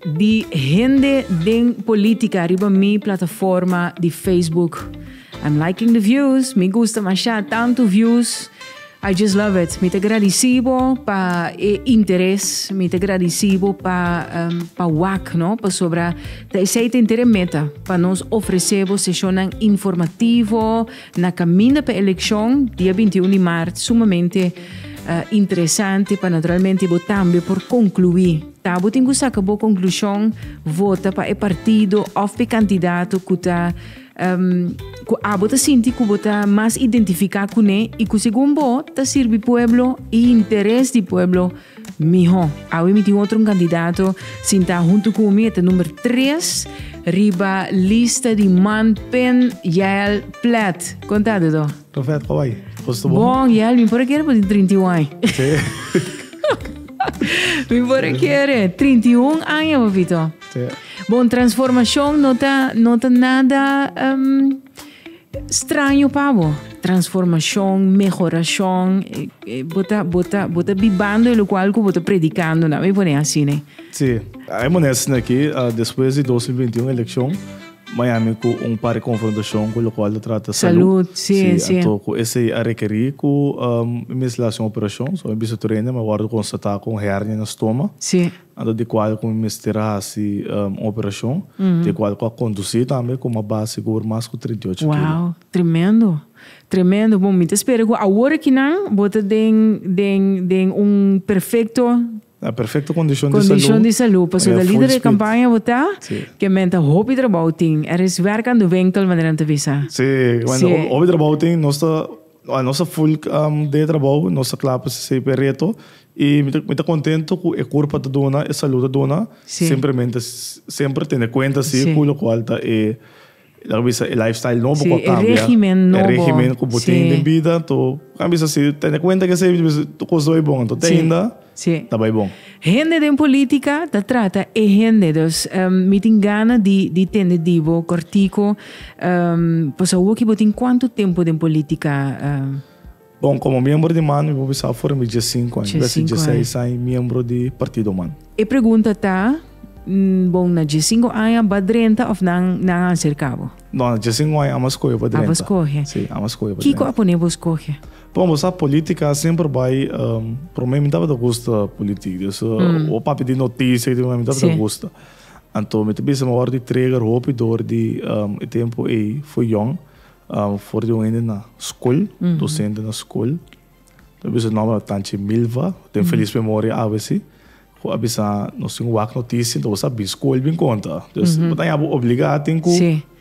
Di hende den politica riba mi plataforma di Facebook. I'm liking the views, mi gusta masha tanto views, I just love it. Mi ta gradici bo pa e interes, mi ta gradici bo pa pa wak no, pasobra ta esey ta inter e meta pa nos ofrece bo sesionnan informativo na caminda pa eleccion dia binti i un di maart sumamente interesante pa naturalmente bo tambe por conclui. Ta bo tin cu saca bo conclusion, vota pa e partido of p'e candidato cu ta, um, cu abo ta sinti cu bo ta mas identifica cu ne y cu segun bo ta sirbi pueblo y interes di pueblo miho. Awe mi tin otro un candidato sinta hunto cu mi, e ta number tres riba lista di man Pen Yael Plet. Con ta Dodo? Lo vet Hawaii. Os te Bon, bon. ya, mi por a kere por tin 31 aña. Sí. Mi por a kere 31 aña, papito. Sí. Bon, transformacion no ta, no ta nada em, straño pa bo. Transformacion, mehoracion, eh, eh, bo ta, bo ta, bo ta bibando e lo cual cu bo ta predicando, nan mi pone asina. Sí. Hay monesten aki, ah, despues di 2021 eleccion, Miami cu un par di confrontacion cu locual ta trata salud. Si, anto cu esey a requeri cu mi mes la haci un operacion. So mi bisa tur hende, ma a wordo constata cu un hernia na stoma. Anto di cual cu mi mester a haci un operacion. Di cual cu a conduci tambe cu mi a ba sigur mas cu trinta y ocho kilo. Wow! Tremendo! Tremendo! Bon, mi ta spera cu awor aki nan bo ta den, den, den un perfecto. Na perfecto condicion di salud. Condicion di salud. Paso ta lider di campaña bo ta. Si. Ke men ta hopi trabao tin. Er is werk ando winkel manera nan ta bisa. Si. Bueno hopi trabao tin. Nos ta nos ta full den e trabao. Nos ta cla pa sey p'e reto. Y mi ta mi ta contento cu e curpa ta duna, e salud ta duna. Si. Simplemente semper tene cuenta si cu locual ta e. E ta bisa e lifestyle nobo ku a kambia. Si, e regimen nobo. E regimen ku bo tin den bida. Anto, bo ta bisa si tene kuenta ke esei tur kos ta bai bon. Anto, te ainda ta bai bon. Hende den politika ta trata e hende. Dus, mi tin gana di tende di bo kòrtiku, pas awoki bo tin kuantu tempu den politika? Bon, komo miembro di man mi por bisa afore mi diessinku aña, bes di diesseis aña miembro di partido man. E pregunta ta, Bon, na diessinku aña ba drenta òf nan nan a aserka bo? No, na diessinku aña amo a skohe pa drenta. Abo skohe. Sí, amo a skohe pa drenta. Kiko a pone bo skohe? Bon, bo sa polítika semper bai, promé mi tabata gusta polítik, dus hopi papia di notisia i te mi tabata gusta. Anto mi ta bisa mi a wòrdu i trega hopi dor di e tempu ei for yòn, For di un hende na skol, dosente na skol, ta bisa nòmber ta Tanchi Milva, ku ten felis memoria abc, ku a bisa, Nos tin wak notisia, bo sa bin skol bin konta. Dus bo ta yama, bo obligá tin ku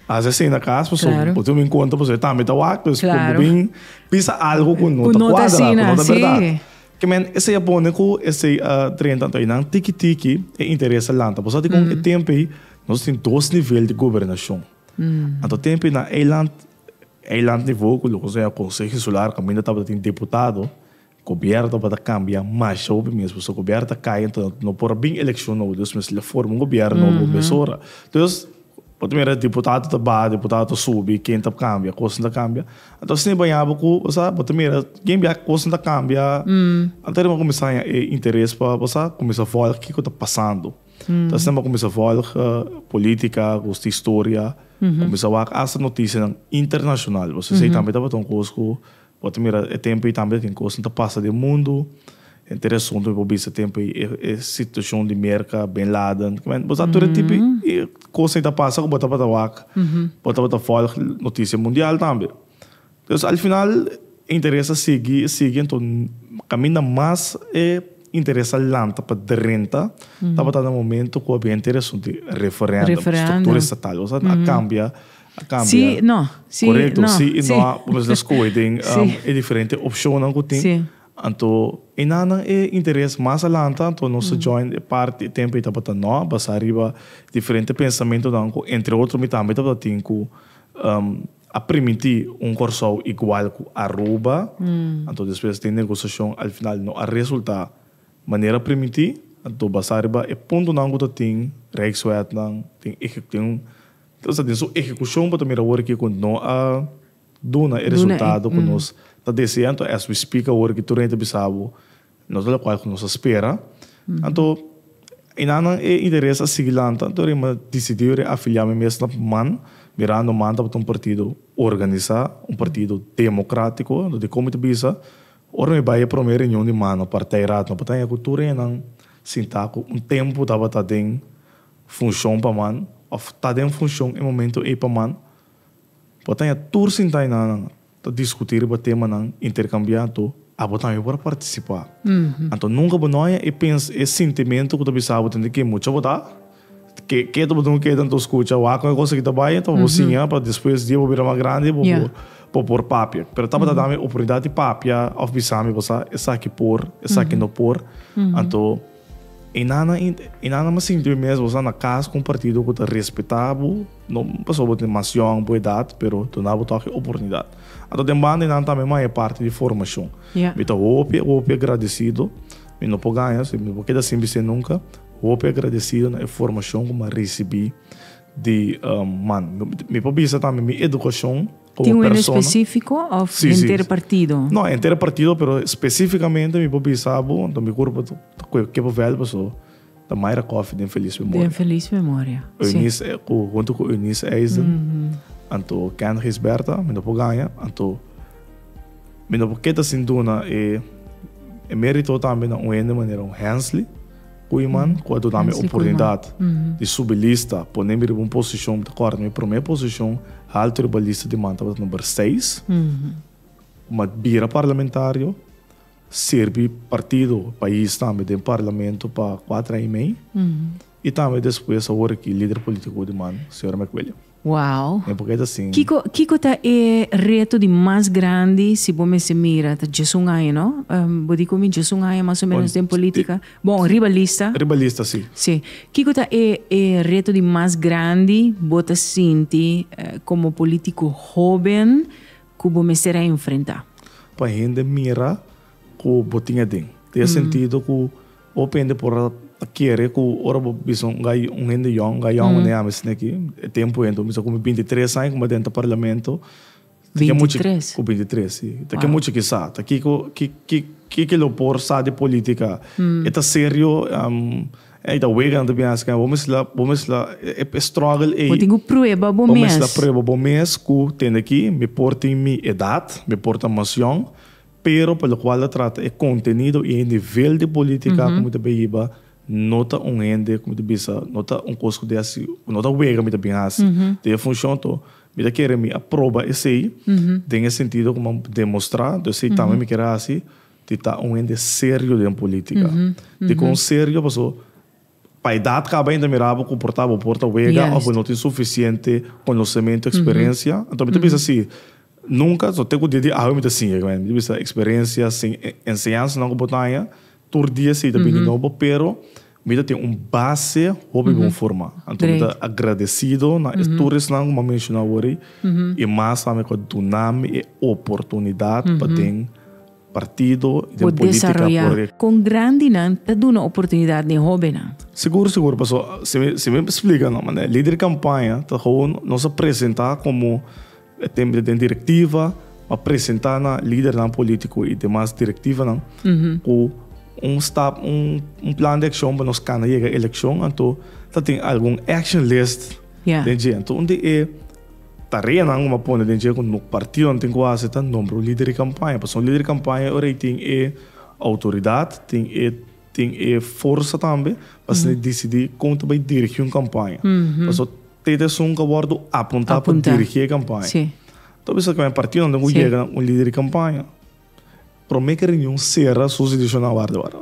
hasi asin na kas, pasobra bo tin ku bin konta, pasobra e tambe ta wak. Dus kon bo bin bisa algu ku no ta kuadra, ku no ta bèrdat. Ke men esei a pone ku esei a drenta. Anto einan tiki tiki e interes a lanta. Bo sa di kon e tempu ei nos tin dos nivel di gobernashon. Anto tempu na eiland, eiland nivo ku loke sea konseho insular kaminda tabata tin deputado, gobièrnu tabata kambia masha hopi mes. Pasobra gobièrnu ta kai anto no por a bin elekshon nobo. Dus mester a forma un gobièrnu nobo mesora. Dus, bo ta mira deputado ta ba, deputado ta subi, ken ta kambia, kosnan ta kambia. Anto asina bo haña bo ku bo sa, bo ta mira ke bia kosnan ta kambia. Anto a riba bo kuminsá haña e interes pa bo sa, kuminsá vòl kiko ta pasando. Ta asina bo kuminsá vòlg polítika, kos di historia, kuminsá wak asta notisianan internashonal. Bo sesei tambe tabata un kos ku bo ta mira e tempu ei tambe ta tin kosnan ta pasa den mundu. Henter e asuntu mi por bisa e tempu ei e situashon di Merka, Bin Laden, ku bo sa tur e tipo di kosnan ei ta pasa ku bo tabata wak, bo tabata vòlg notisia mundial tambe. Entonces al final e interes a sigui, a sigui enton caminda mas e interes a lanta pa drenta tabata na momento cu a bia intereson di referendum, structura estatal, cosa a cambia, a cambia. Sí y no, sí y no. Correcto, sí y no, cu nos a scoge den e diferente opcionnan cu tin, anto e nanan e interes mas a lanta anto nos a join e parti, e tempo y tabata no, basa riba diferente pensamentonan cu entre otro mi tambe tabata tin cu. a primiti un Kòrsou igual ku Aruba, anto despues di e negosiashon al final no a resultá manera primiti, anto basá riba e puntonan ku ta tin Rijkswetnan tin tin ta sa tin su ehekushon bo ta mira awor aki ku no a duna e resultado ku nos ta deseá, anto as we speak awor aki tur rei ta bisa bo No ta locual cu nos a spera. Anto, Enanan e interes a sigui lanta, anto Rey m'a dicidiu reafilia mi mes na PMAN, mirando MAN tabata un partido organisa, un partido democratico. Anto, dicon mi ta bisa? Ora mi bay e prome reunion di MAN, no, partijraad, no bata cu tur renan sinta cu un tempo tabata den funcion pa MAN, of ta den funcion e momento ey pa MAN. Bata tur sinta enanan. Ta diskutí riba temanan, interkambiá to, abo tambe por a partisipá. Anto nunka bo no haña e pens, e sintimentu ku ta bisa abo tende ke mucha bo ta, ke ke ta bo duna keda anto skucha, wak kon e kos aki ta bai, anto bo siña pa despues di abo bira mas grandi bo por bo por papia. Pero tabata dame oportunidat di papia òf bisami, Basa esaki por, esaki no por, anto. E nana i e nana mester sinti bo mes bo sa na kas ku un partido ku ta respetá bo, no pasobra bo tin mas yòn ku edat, pero duna bo tòg e oportunidat. Anto den banda e nan tambe mas e parti di formashon. Mi ta hopi hopi agradesido, mi no por gaña si mi por keda sin bisé nunka, hopi agradesido na e formashon ku mi a risibí di man. Mi por bisa tambe mi edukashon. Tin un hende específico of henter partido? Sí, sí. No, henter partido, pero específicamente mi por bisa bo, anto mi cuerpo ta cu e Keppel Veld pasobra ta Myra Coffey den Feliz Memoria. Den Feliz Memoria, sí. Eunice, hunto cu Eunice Eisden, anto Ken Gisberta, mi no por gana, anto mi no por keda sin duna e merito tambe na un hende manera un Hensley. Koeman ku a duna mi oportunidat di subi lista, pone mi riba un posishon, mi ta kòrda mi promé posishon haltu riba lista di man tabata number seis. Ku mi a bira parlamentario, sirbi partido, pais tambe den parlamento pa kuater aña i mei, i tambe despues awor aki lider politiko di man, señor Mc William. Wow! E por ke ta sin? Kiko kiko ta e reto di mas grandi si bo mester mira? Ta djes un aña, no? Bo di ku mi djes un aña mas o menos den politika. Bon, riba lista. Riba lista, si. Si. Kiko ta e e reto di mas grandi bo ta sinti komo politiko hoben ku bo mester a enfrentá? Pa hende mira. Ku bo tin aden. Den e sentido ku hopi hende por a kere ku ora bo bisa un hende yòn, ga yòn manera ami sende aki, e tempu henter, mi sa ku mi binti tres aña ku mi aden ta parlamento. Binti tres? Ku binti tres, si. Ta ke mucha ki sa? Ta kiko, kiko lo por sa di politika? E ta serio? Ey ta wega nan ta bini hasi? Bo mes la, bo mes la e struggle ey. Bo tin ku prueba bo mes. Bo mes la prueba bo mes ku tende aki mi por tin mi edat, mi por ta mas yòn. Pero pa lokual ta trata e kontenido i e nivel di politika ku mi ta bin hiba, no ta un hende ku mi ta bisa, no ta un kos ku ta hasi, no ta wega ku mi ta bin hasi. Den e funshon to, mi ta kere mi a proba esei, den e sentido ku mi a demostrá ku esei tambe mi kere hasi, di ta un hende serio den politika. Dikon serio? Pasobra Pa edat caba ainda mira bo cu por ta bo por ta wega of bo no tin suficiente conocemento experiencia enton mi ta bisa si nunca so te cu dia di awe mi ta sinje mi ta bisa experiencia sin enseñansanan cu bo ta haña tur dia si ta bini nobo pero mi ta tin un base hopi bon forma enton mi ta agradecido na e tur esnan cu mi a menciona awor y mas tambe cu a dunami e oportunidad paden Partido den politica por. Con grandinan ta duna oportunidad den hobennan. Sigur sigur paso si mi splica no manera lider campaña ta gewoon nos a presenta como tembel den directiva a presenta na lidernan politico y demas directivanan cu un stap un plan de accion pa nos cana yega eleccion anto ta tin algun action list den dje anto un di e. Tareanan un a pone den dje ku nos partidonan tin ku hasi ta nombra un lider di kampaña. Pasobra un lider di kampaña ora i tin e outoridat, tin e tin e forsa tambe pa esei disidí kon ta bai dirigí un kampaña. Pasobra tete esun ku a wòrdu apuntá pa dirigí e kampaña. Ta bisa ku e partidonan den ku yega un lider di kampaña, promé ki runion sera su sitiacion na warda warda.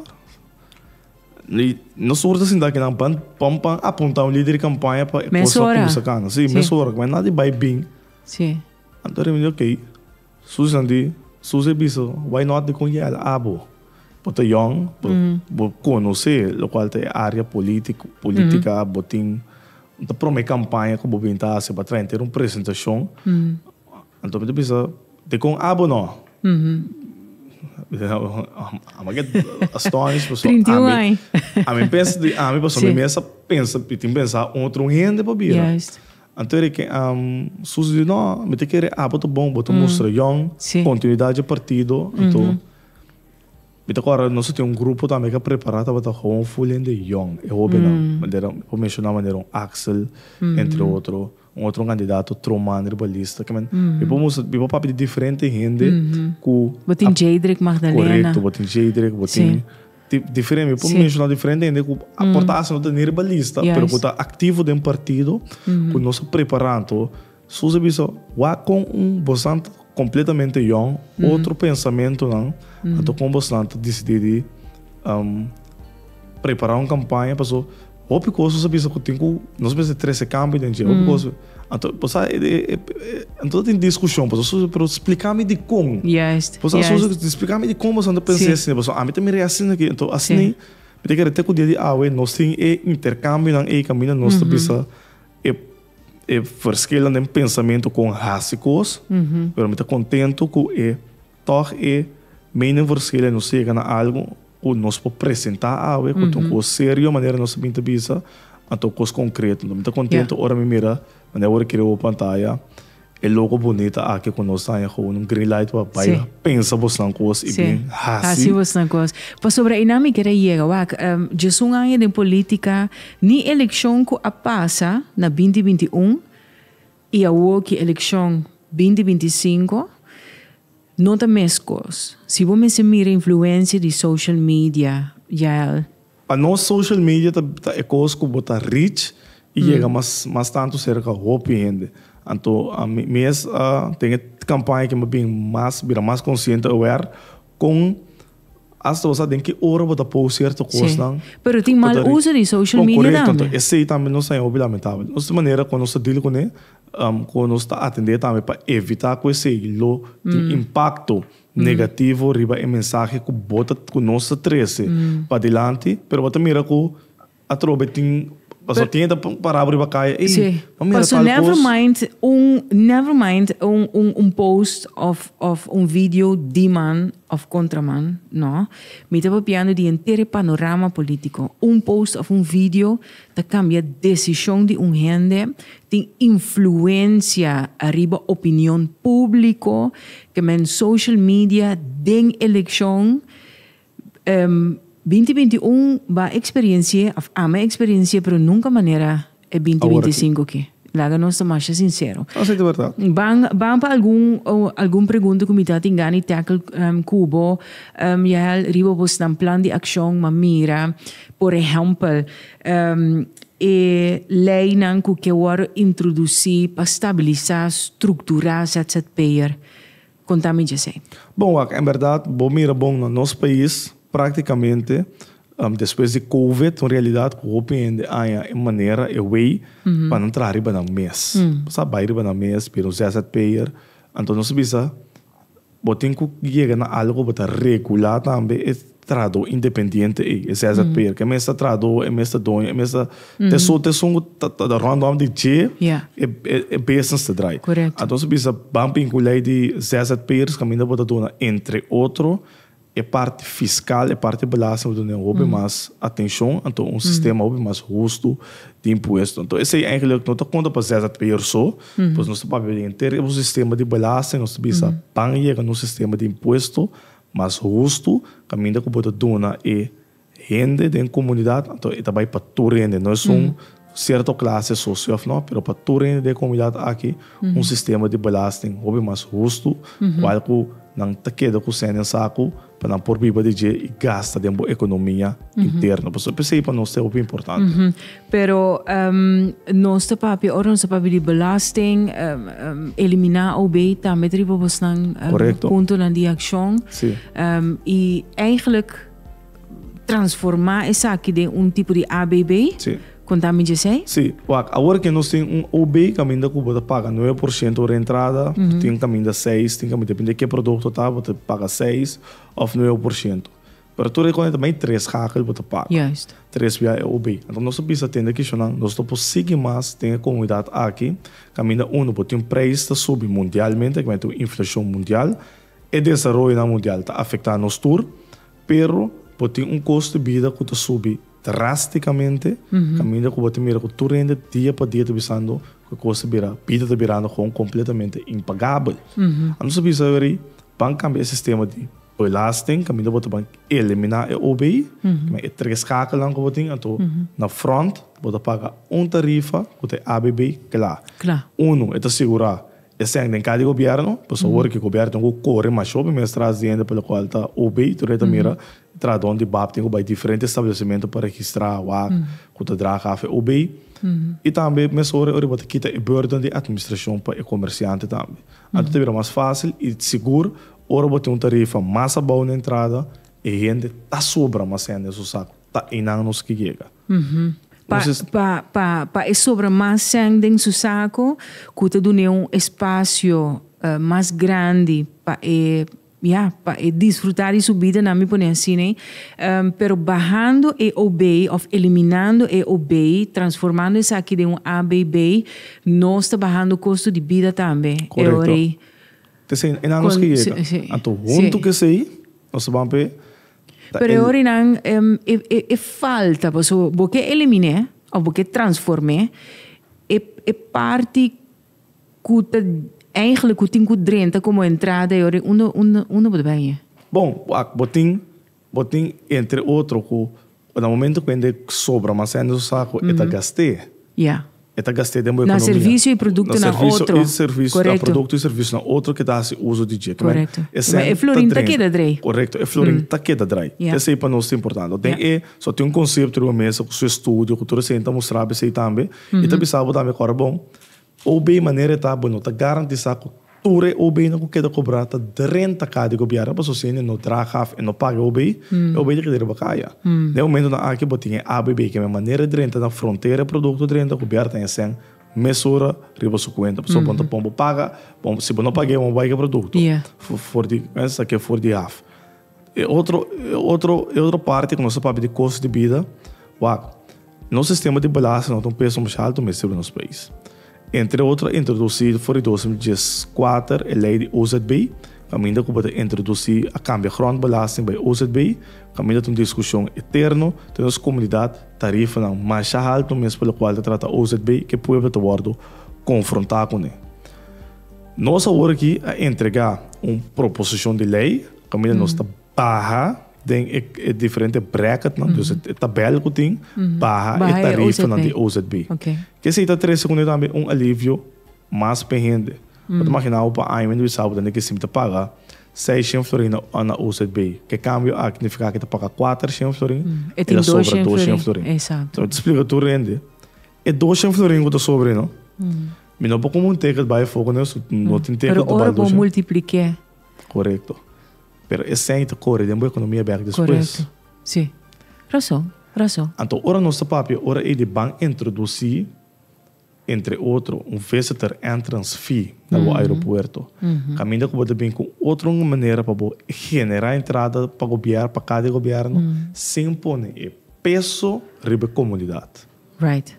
Nos ora ta sinta aki nan pan pon pa apunta un lider di kampaña pa e kos ta kumsa kana. Sí, mes ora. Kuma e nada di bai bin. Sí. Anto Remy di ok. Susan di, Susie bisa, why not di con Yel abo? Bo ta yòn, bo conoce locual ta e área político, política. Bo tin, ta prome campaña cu bo bin ta haci pa trae henter un presentacion. Anto mi ta bisa, Dikon abo no? Abo get astonished pasobra. Trinta i un ai. Ami pensa di ami pasobra mi mester pensa, mi tin pensa un otro un hende pa bira. Juist. Anto e reken am Susi di no, mi ta kere abo ta bon, bo ta mustra yòn, kontinuidat dje partido. Anto. Mi ta kòrda nos a tin un grupo tambe ku a prepará tabata hoon full hende yòn. E hóbennan bandera, mi por menshoná bandera un Axel, entre otro. Un otro kandidato Troman riba lista. Ke men, mi por mustra, mi por papia di diferente hende ku a. Bo tin Jeidrek Magdalena. Korekto, bo tin Jeidrek, bo tin diferente. Mi por menshoná diferente hende ku a porta asa no ta ni riba lista, pero ku ta aktivo den partido, ku nos a prepará anto. Sus a bisa, Wak kon un bosnan ta kompletamente yòn, otro pensamentunan a toka un bosnan ta disidí di prepará un kampaña. Pasobra hopi kos sus a bisa ku tin ku nos mester trese kambio den dje. Hopi kos, anto bo sa anto ta tin diskushon pasobra sus a bisa, pero spliká mi dikon. Bo sa sus a bisa, pero spliká mi dikon bo ta pensa asin. Pasobra ami ta mira asin aki. Anto asina mi ta kere te ku dia di awe nos tin e interkambionan ei kaminda nos ta bisa E verschillen den pensamentu con haci cos, pero mi ta contento cu e tog e meningverschillen e nos ta yega na algo cu nos por presenta awe, cu ta un cos serio manera nos a bin ta bisa, anto cos concreto. Mi ta contento ora mi mira manera cu a word a sciri awe pantaya. E loco bonita aki cu nos taña cu un green light pa bay pensa bosnan cos y bien haci bosnan cos. Pasobra y nan mi kere yega wak, djesun aña den politica, ni eleccion cu a pasa na binti binti un y awo ki eleccion binti binti cinco no ta mes cos. Si bo mester mira influencia di social media ya Pa nos social media ta e kos ku bo ta reach i yega mas mas tantu serka hopi hende. Anto ami mes a ten e kampaña ki mi a bin mas bira mas konsiente aware kon asta bo sa den ki ora bo ta post sierto kosnan. Si, pero tin mal uso di social media tambe. Korekto, anto esei tambe nos ta haya hopi lamentabel. Nos tin manera kon nos ta deal kuné, kon nos ta atendé tambe pa evitá ku esei lo tin impakto. negativo riba e mensahe cu bo ta, cu nos ta trece padilanti, pero bo ta mira cu atrobe tin, pasobra tin hende ta para bo riba caye, ey, Sí, bo mira paso tal never cos. mind un, never mind un, un, un post of, of un video di man of contra man, no. Mi ta papiando di henter e panorama politico. Un post of un video Ta cambia decision di un hende, tin influencia ariba opinion publico, ke men social media den eleccion. Binti binti un ba experienci'e of ame experienci'e pero nunca manera e binti binti cinco ki. Laga nos ta masha sincero. Nos ey ta berdad. Ban ban pa algun algun pregunta cu mi ta tin gana di tackle cu bo, Yael, riba bo snan plan di accion, ma mira, por ehempel, e leynan cu ke worde introduci pa stabilisa, structura ZZP'er. Konta mi djesei. Bon wak, en bèrdat bo mira bon na nos pais práktikamente despues di kowid un realidat ku hopi hende haña e manera, e wei pa nan traha riba nan mes. Bo sa bai riba nan mes, bira un ZZP'er, anto nos a bisa bo tin ku yega na algu ku bo ta regulá tambe e. Trahadó independiente ei, e ZZP'er, ku e mes ta trahadó, e mes ta doño, e mes ta, ta esun, ta esun ku ta, ta da rònt nòmber di dje e, e, e business ta drai. Anto su bisa, ban p'in ku lei di ZZP'ers kaminda bo ta duna, entre otro, e parti fiskal, e parti belasting, bo ta duna e hopi mas atenshon, anto un sistema hopi mas hustu di impuesto. Anto esei einklek no ta konta pa ZZP'er so, pues nos ta papia den henter e sistema di belasting, nos ta bisa, ban yega na un sistema di impuesto Mas hustu kaminda ku bo ta duna e hende den komunidat, anto e ta bai pa tur hende, no es un sierto klase so si òf nò, pero pa tur hende den e komunidat aki un sistema di belasting hopi mas hustu, kual ku nan ta keda ku sèn den sa ku pa nan por biba di dje i gasta den bo ekonomia interno. Pasobra esei pa nos ta hopi importante. Pero nos ta papia ora nos ta papia di belasting, eliminá OB tambe ta riba bosnan puntonan di akshon i eigenlijk transformá esaki den un tipo di ABB, kon ta mi djesei? Sí, wak, awor ke nos tin un OB kaminda ku bo ta paga nuebe por shento ora entrada, bo tin kaminda seis, tin kaminda depende ke produkto ta, bo ta paga seis òf nuebe por shento. Pero tur e kòne ta bay tres hakel bo ta pak. Tres wia e obe. Anto nos ta bisa tende kishonnan nos no por sigui mas den e komunidat aki kaminda uno bo tin preis ta subi mundialmente kaminda tin un inflashon mundial. E desaroyonan mundial ta afektá nos tur pero bo tin un kost di bida ku ta subi drástikamente kaminda ku bo ta mira ku tur hende dia pa dia ta bisando ku e kos ta bira bida ta birando hon kompletamente impagabel. Anto nos ta bisa weri ban kambia e sistema di. Belasting, caminda bo ta ban elimina e OBI, caminda e tres scakelnan cu bo tin, anto na front bo ta paga un tarifa cu ta e ABB cla. Cla. Uno, e ta sigura e seng den cada gobierno, pasobra ora cu e gobierno tin cu core masho pa mes tras di hende pa locual ta OBI, tur e ta mira tras don di bap tin cu bai diferente establecimento pa registra wak cu ta dra caf e OBI. Y tambe mesora ora cu bo ta kita e burden di administracion pa e comerciante tambe. Anto ta bira mas facil y sigur Ora bo tin un tarifa mas abou na entrada, e hende ta sobra mas hende na su sak, ta einan nos ke yega. Entonces. Pa e sobra mas sèn den su sako ku ta dun'é un espasio mas grandi pa e, ya, pa e disfrutá di su bida nan, mi pone así nei, pero bahando e OB òf eliminando e OB, transformando esaki den un ABB, nos ta bahando kosto di bida tambe. Korekto. Esei e nanos ke yega. Anto huntu ke esei nos ta ban p'e. Pero e ora nan e falta paso bo ke eliminé of bo ke transformé e parti ku ta eigenlijk ku tin ku drenta komo entrada e ora unda bo ta bai. Bon wak bo tin. Bo tin entre otro cu na momento cu hende sobra mas hende su sa cu e ta gast'e. E ta gast'e den bo economia. Na servicio y productonan otro. Na servicio y servicio, na producto y servicionan otro ke ta haci uzo di dje. Correcto. Ma e florin ta keda draai. Correcto, e florin ta keda draai. Esey pa nos ta importante. Den e so tin un concepto riba mesa cu su estudio cu tur esey ta mustra besey tambe y ta bisa bo tambe cu ora bon OB manera e ta bo no ta garantisá ku tur e OBnan ku keda kobrá ta drenta ka di gobièrnu pasobra si hende no draga af e no paga e OB, e OB ta keda riba kaya. Den momentunan aki bo tin e ABB ke men manera e drenta na frontera e produkto drenta gobièrnu ta hesé mes ora riba su kuenta pasobra bo no ta pon bo paga si bo no pag'é bo no bai ku e produkto for di, mester ta ke for di af. E otro e otro e otro parti ku nos ta papia di kostu di bida, wak, nos sistema di belasting lo ta un peso masha alto mester den nos pais. Entre otro a introdusi for di dos mil dies kuater e lei di OZB, kaminda ku bo ta introdusi a kambia grondbelasting bai OZB, kaminda ta un diskushon eterno den nos komunidat, tarifanan masha alto mes pa lokual ta trata OZB ke pueblo ta wòrdu konfrontá kuné. Nos awor aki a entrega un proposicion di ley kaminda nos ta baha den e diferente bracketnan, dus e tabel ku tin, baha e tarifanan di OZB. Ke esei ta trese kune tambe un alivio mas pa e hende. Bo ta imaginá bo pa aña mi Luisabo bo ta tene ke sibi ta paga seis shen florin na OZB. Ke kambio aki nifiká ke ta paga kuater shen florin i ta sobra dos shen florin. Bo ta splika tur hende. E dos shen florin ku ta sobra ei no. Mi no por kuma un teket bai afo kuné su. No tin teket di baldo shen. Pero ora bo multiplik'é. Korekto. Pero e shen ta kore den bo ekonomia bèk despues. Korekto. Si. Rason. Rason. Anto ora nos ta papia ora ei di ban introdusí entre otro un visitor entrance fee na bo aeropuerto. Kaminda ku bo ta bin ku otro un manera pa bo generá entrada pa gobier pa kada e gobierno sin pone e peso riba e komunidat. Right.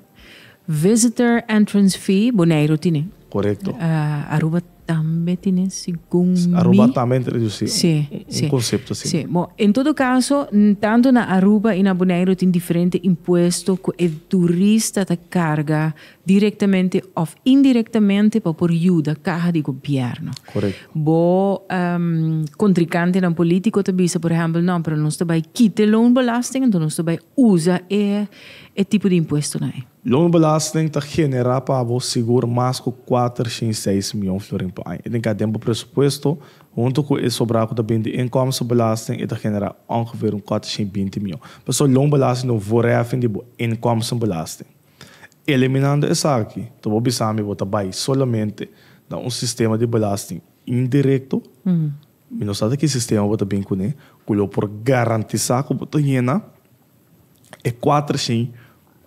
Visitor entrance fee Boneiru tine. Correcto. Aruba tambe tine segun mi. Aruba tambe ta reduci. Si, si. Un concepto asin. Si. Bo, en todo caso, tanto na Aruba y na Boneiru tin diferente impuesto cu e turista ta carga directamente of indirectamente pa por yuda caha di gobierno. Correcto. Bo contricantenan politico ta bisa, por ehempel, no, pero nos ta bay kite loonbelasting, enton nos ta bay usa e. e tipo di impuestonan ei. Loonbelasting ta generá pa bo sigur mas ku kuater shin seis mion florin pa aña. E tin ka den bo presupuesto. Huntu ku e sobrá ku ta bini di inkomstenbelasting e ta generá ongeveer un kuater shin binti mion. Pasobra loonbelasting ta un voorheffing di bo inkomstenbelasting. Eliminando esaki ta bo bisa mi bo ta bai solamente na un sistema di belasting indirecto. Mi no sa ta ki sistema bo ta bini kuné ku lo por garantisá ku bo ta yena. e kuater shin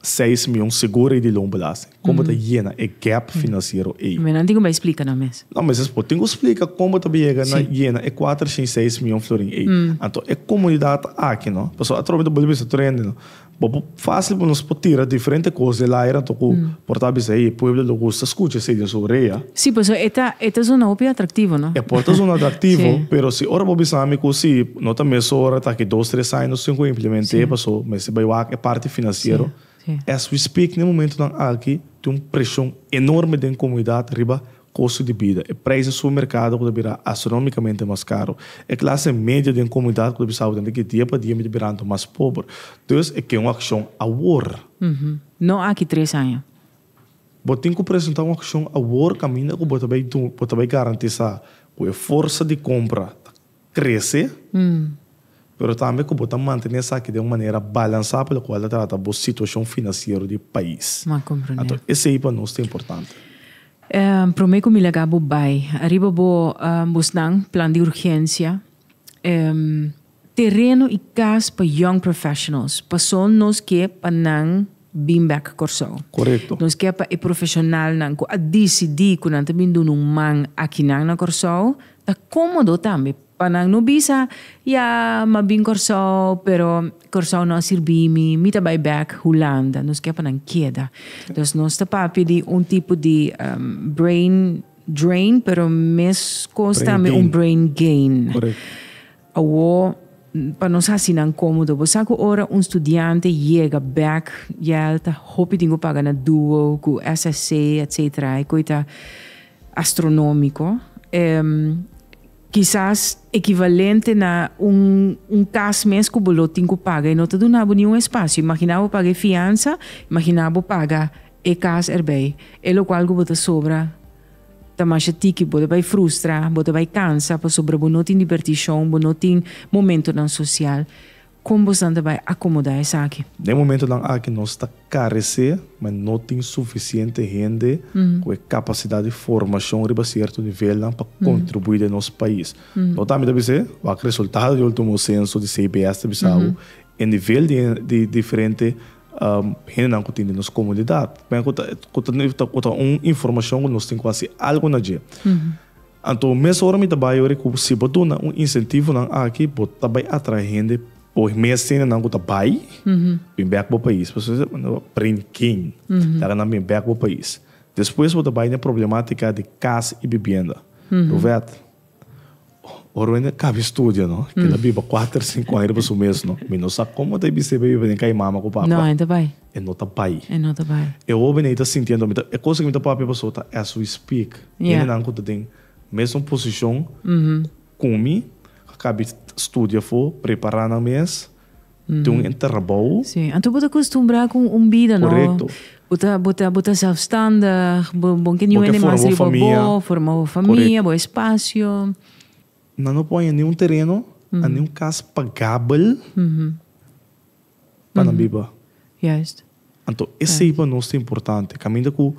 seis mion seguro ei di loan belasting. Kon bo ta yena e gap finansiero ei? Mira, nan tin ku bai splika nan mes. No, mester bo tin ku splika kon bo ta bai yega na yena e kuater shin seis mion florin ei. Anto e komunidat aki, no, pasobra atrobe bo ta boli bisa tur hende, no, bo por fásil por nos por tira diferente kos den el aer anto ku por ta bisa, hey, e pueblo lo gusta skucha esei den su orea. Sí, pues so e ta e ta zona hopi atraktivo, no? E por ta zona atraktivo, pero si ora bo bisa mi ku si no ta mesora ta ki dos tres aña nos tin ku implementé e paso mester bai wak e parti financiero. As we speak na e momentonan aki tin un presion enorme den komunidat riba kosto di bida. E prijs den su merkado ku ta bira astronomikamente mas karo. E klase medio den komunidat ku ta bisa awor di dia pa dia mi ta birando mas pober. Dus e ke un akshon awor. No aki tres aña. Bo tin ku presentá un akshon awor kaminda ku bo ta bai duna, bo ta bai garantisá ku e forsa di kompra ta krese, pero tambe ku bo ta mantené esaki den un manera balansá pa lokual ta trata bo situashon finansiero di pais. Anto esei pa nos ta importante. Promé ku mi laga bo bai, ariba bo busnan plan di urgensia. Tereno y cas pa young professionals, pasobra nos ke pa nan bin bek Corsou. Correcto. Nos ke pa e profesionalnan cu a dicidi cu nan ta bin duna un man akinan na Corsou, ta comodo tambe pa nan no bisa, ya, m'a bin Corsou, pero Corsou no a sirbi mi, mi ta bay bek Hulanda. Nos ke pa nan keda. Dus nos ta papia di un tipo di brain drain, pero mes cos tambe un brain gain. Correcto. Awor, pa nos hasi nan komodo, bo sa ku ora un studiante yega bèk ya el ta hopi tin ku paga na duo ku SSC etc. E koi ta astronómiko. E kisas ekivalente na un un kas mes ku bo lo tin ku paga i no ta duna bo niun espasio. Imaginá bo paga e fiansa, imaginá bo paga e kas erbei. E lokual ku bo ta sobra Ta masha tiki, bo ta bai frustra, bo ta bai kansa pasobra bo no tin dibertishon, bo no tin momentonan sosial. Kon bosnan ta bai akomodá esaki? Den momentonan aki nos ta karesé, ma no tin sufisiente hende ku e kapasidat di formashon riba sierto nivelnan pa kontribuí den nos pais. No tambe ta bis'é, wak resultado di último senso di CBS ta bisa hu e nivel di diferente, Hendenan ku tin den nos komunidat. Mira ku ta ku ta un informashon ku nos tin ku hasi algu na dje. Anto mes ora mi ta bai yori ku si bo duna un insentivonan aki bo ta bai atrae hende bo mes hendenan ku ta bai bin bèk bo pais. Por eso mi ta manda bo bring kin taka nan bin bèk bo pais. Despues bo ta bai na e problematika di kas i bibienda. Ruwet. Ora mi a kaba e studio no, kila biba kuater, sinku aña riba su mes no, mi no sa komo ta e bist'ei pa biba den kai mama ku papa. E no ta bai. E hoben ei ta sinti anto, e kos ku mi ta papia paso ta as we speak, hendenan ku ta den mesmu posishon ku mi a kaba studia afo, prepara nan mes. Te un hende trabou. Sí. Anto bo ta costumbrá cu un bida, no? Corecto. Bo ta, bo ta, bo ta zelfstandig, bo, bo n'ke niun hende mas riba bo, forma bo famia, bo espacio. Nan no por haña niun tereno, a niun cas pagabel pa nan biba. Juist. Anto esei pa nos ta importante, caminda cu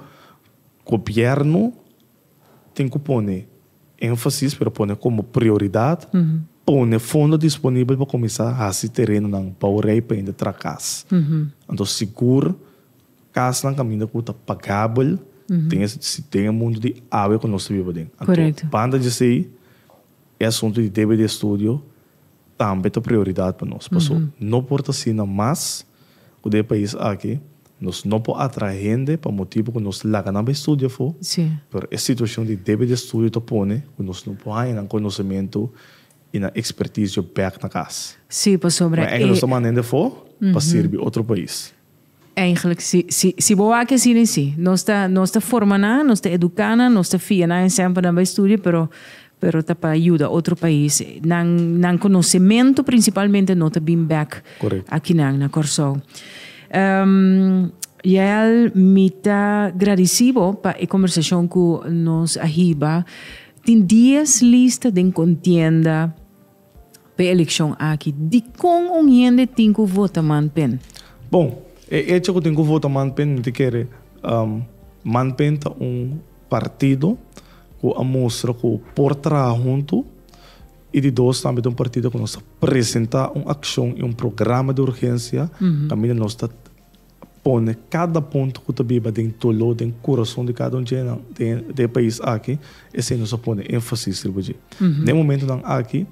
gobierno. Tin cu pone enfasis, pero pone como prioridad, pone fondo disponibel pa cuminsa haci terenonan bou rey painda tra cas. Anto sigur casnan caminda cu ta pagabel den e si den e mundo di awe cu nos ta biba den. Anto banda di esey e asunto di debe di estudio. tambe ta prioridad pa nos, paso no por ta asina mas cu den e pais aki, nos no por atrae hende pa motibo cu nos laga nan bay studia afo, pero e situacion di debe di estudio ta pone cu nos no por haya nan conocemento y nan experticio bek na cas. Cu enke nos ta manda hende afo pa sirbi otro pais. Eigenlijk, si, si, si bo wak asina, si. Nos ta, nos ta forma nan, nos ta educa nan, nos ta fia nan esem pa nan bai studia, pero, pero ta pa yuda otro pais. Nan, nan conocemento principalmente no ta bin bek aki nan na Corsou. Yael, mi ta gradici bo pa e conversacion cu nos a hiba. Tin dies lista den contienda. P'e elekshon aki, dikon un hende tin ku vota manpen? Bon, e echo ku tin ku vota manpen no ta kere manpen ta un partido ku a mustra ku por traha huntu i di dos tambe ta un partido ku nos ta presentá un akshon i un programa di urgensia kaminda nos ta pone kada punto ku ta biba den doló, den kurason di kada un djenan den e pais aki, esei nos a pone énfasis riba dje. Na e momentunan aki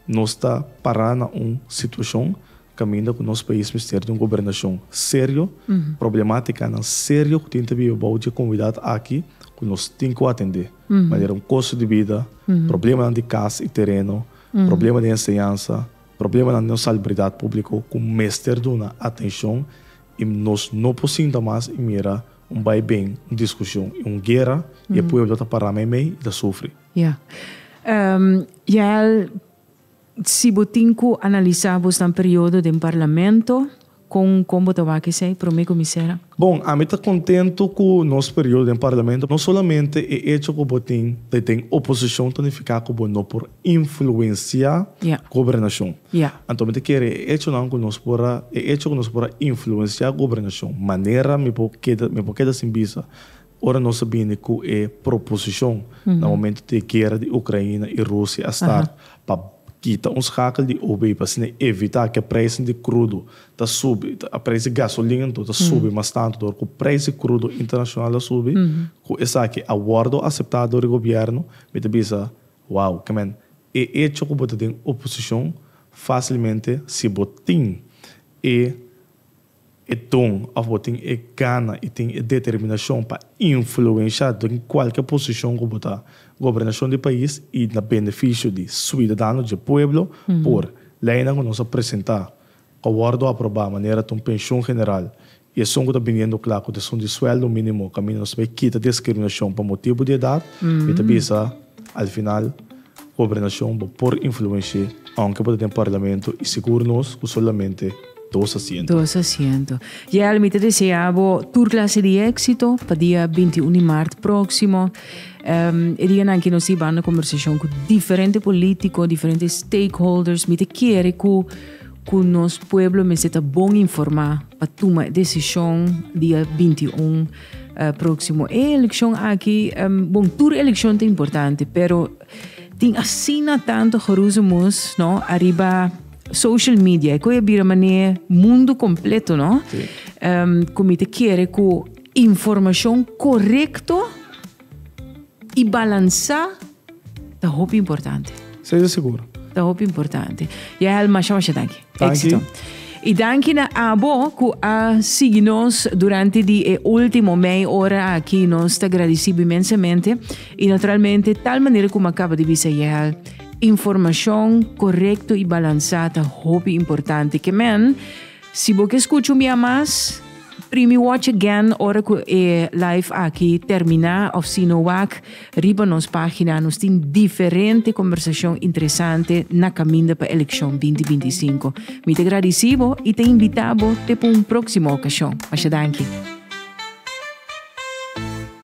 nos ta pará na un situashon kaminda ku nos pais mester di un gobernashon serio, problemátikanan serio ku tin ta biba bou dje komunidat aki ku nos tin ku atendé, manera un kostu di bida, problemanan di kas i tereno, problema di enseñansa, Problemanan den salubridat públiko ku mester duna atenshon i nos no por sinta mas i mira un baiben, un diskushon i un guera i e pueblo ta pará meimei i ta sufri. Ya. Yael, si bo tin ku analisá bosnan periodo den Parlamento, Con con bo ta wak esey prome comisera? Bon, ami ta contento cu nos periodo den Parlamento, no solamente e hecho cu bo tin ta den oposicion ta nifica cu bo no por influencia gobernacion. Anto mi ta kere e hechonan cu nos por a, e hecho cu nos por a influencia gobernacion, manera mi por keda, mi por keda sin bisa. Ora nos a bini cu e proposicion na momento di e guera di Ucraina y Rusia a start pa kita un schakel di OBI pa asina evita cu e prijzen di crudo ta subi, e prijs di gasolina anto ta subi mas tanto door cu prijs di crudo internacional a subi, cu esaki a wordo acepta door e gobierno, mi ta bisa, wow, ca men, e hecho cu bo ta den oposicion facilmente si bo tin e. e don of bo tin e gana y tin e determinacion pa influencia den cualkier posicion cu bo ta gobernacion di pais y na beneficio di suidadano dje pueblo por leynan cu nos a presenta cu a wordo aproba manera ta un pension general y esun cu ta biniendo cla cu ta esun di sueldo minimo caminda nos ta bay kita discriminacion pa motibo di edad mi ta bisa al final. Gobernashon bo por influenshi'é aunke bo ta den parlamento i sigur nos ku solamente dos asiento. Dos asiento. Yel, mi ta deseá bo tur klase di éksito pa dia binti un di mart próksimo. E dianan aki nos ta hibando kombersashon ku diferente polítiko, diferente stakeholders. Mi ta kere ku ku nos pueblo mester ta bon informá pa tuma e desishon dia binti un. Próksimo e elekshon aki, bon, tur elekshon ta importante, pero tin asina tantu geroezemoes, no, ariba social media, e kue a bira man'e mundu kompleto, no, ku mi ta kere ku informashon korekto i balansá. Ta hopi importante. Sei ta seguro. Ta hopi importante. Ya hel masha masha danki. Éxito. I danki na abo ku a sigui nos durante di e último mei ora aki. Nos ta gradisibu imensamente i naturalmente tal manera ku mi kaba di bisa ya hel informashon korekto i balansá ta hopi importante. Ke men Si bo ke skuchu mia mas, primi watch again ora ku e live aki terminá of sino wak riba nos página nos tin diferente kombersashon interesante na kaminda pa elekshon binti binti i sinku. Mi ta gradisí bo i ta invitá bo te pa un próksimo okashon. Masha danki.